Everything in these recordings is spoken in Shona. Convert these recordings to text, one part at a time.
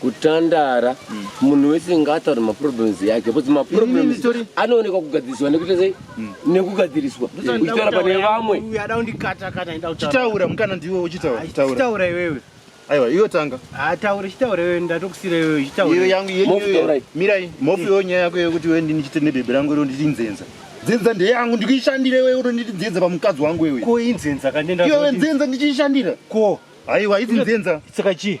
kutandara mm. munhu wese ngaataure maproblems yake bcause maproblems anoonekwa kugadziriswa nekuita sei mm. nekugadziriswa uchitaura pane vamwe chitaura mukana ndiwe uchitaura iwewe aiwa iwe tanga ataure chitaure wewe ndatokusira iwewe chitaure yangu yenyu mirai mofu yo nyaya yako yekuti wewe ndini chite nebebe rangu iro nditi nzenza dzinza ndeyangu ndikuishandira iwewe uri nditi dzinza pamukadzi wangu iwewe ko inzenza kandenda iwewe nzenza ndichiishandira ko aiwa idzi nzenza saka chii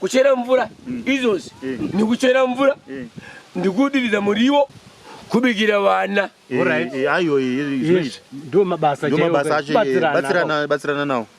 kuchera mvura mm. izvozvi eh. nikuchera mvura eh. ndikudiridza muriwo kubikira vana eh, ayo ndo mabasa acho batsirana nawo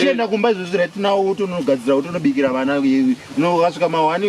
chienda kumba izvozvi right now uti unogadzira uti unobikira vana unokasvika mahwani